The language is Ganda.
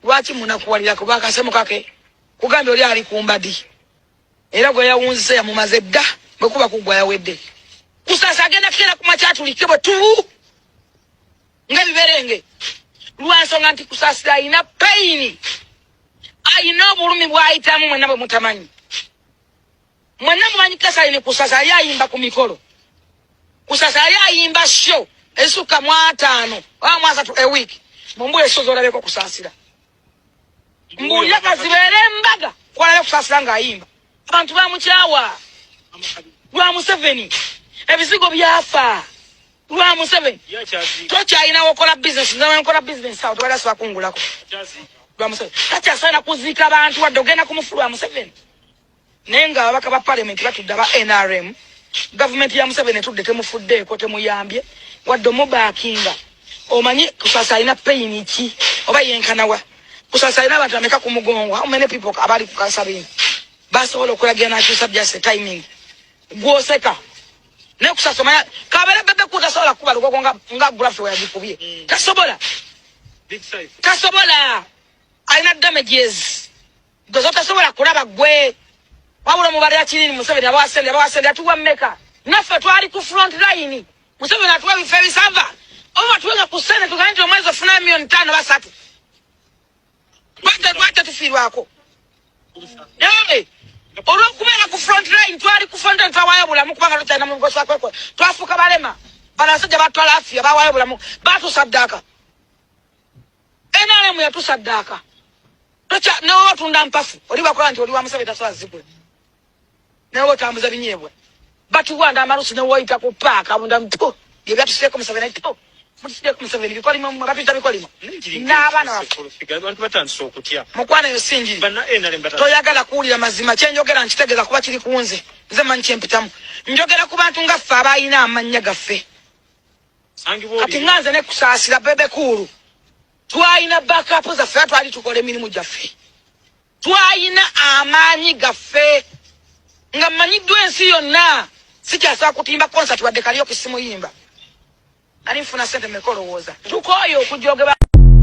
lwaki munakuwalirako bakasemu kake kugambye oli ali kumbadi era gwe yawunzise yamumaze dda bwe kuba kugwa yawedde kusasa agenda kera ku makyatulikke bwe tubu ng'ebiberenge lwansonga nti kusasira alina payini alina obulumi bwayitamu mwena bwe mutamanyi Mwenna mumanyi Kasalini Kusasa yali ayimba ku mikolo. Kusasa yali ayimba show ezisukka mu ataano oba mu asatu a week. Mumbule show z'olabeko Kusaasira. Mbuulira ka zibeere embaga kwalabe Kusaasira ng'ayimba. Abantu bamukyawa lwa Museveni. Ebizigo byafa lwa Museveni. Tokyalina wokola bizinesi nze wenkola bizinesi awo tewali asobola kungulako lwa Museveni. Takyasaana kuziika bantu wadde ogenda ku mufu lwa Museveni. naye nga ababaka ba parliament batudde aba nrm gavumenti ya museveni etudde temufuddeeko temuyambye wadde omubakinga omanyi kusasa alina payini ki oba yenkanawa kusasa alina abantu ameka ku mugongo how many people abali ku kansabini basobola okulagira nakyusa just a timing gwoseka naye kusasa omanya kabera bebe ku tasobola kukuba lugogo nga nga gulafe weyagikubye mm. tasobola tasobola alina damages gwe zotasobola kulaba gwe wabula mubalira kinini museveni abawasente abawasente atuwa meka naffe twali ku front line museveni atuwa ebifo ebisava oba tuwenga ku sente tugane nti omwezi ofuna miliyoni ttaano basatu lwajja tufiirwako naye olwokubeera ku front line twali ku front line twawayo bulamu kubanga tukyalina mu nkosa kwekwe twafuuka balema bano basajja batwala afiya bawayo bulamu batusaddaka nrm yatusaddaaka newe watunda mpafu oli bakola nti oli wa museveni tasobola zigula newe otambuza binyeebwa batuwanda amalusu newoyita ku paaka bunda mpo byebyatusieko museveni to mutideko museveni bikolimo batuyita bikolimo n'abaana mukwano eyo sinjiri toyagala kuwulira mazima kyenjogera nkitegeeza kuba kiri kunze nze manyi kyempitamu njogera ku bantu nga ffe abalina amannya gaffe kati nga nze nekusaasira bebe kuulu twalina bakapu zaffe a twali tukola emirimu gyaffe twalina amaanyi gaffe nga mmanyiddwa ensi yonna sikyasobola kutimba konsati wadde kaliyo kisimuyimba ali nfuna sente mekolowooza tukooye okujogeba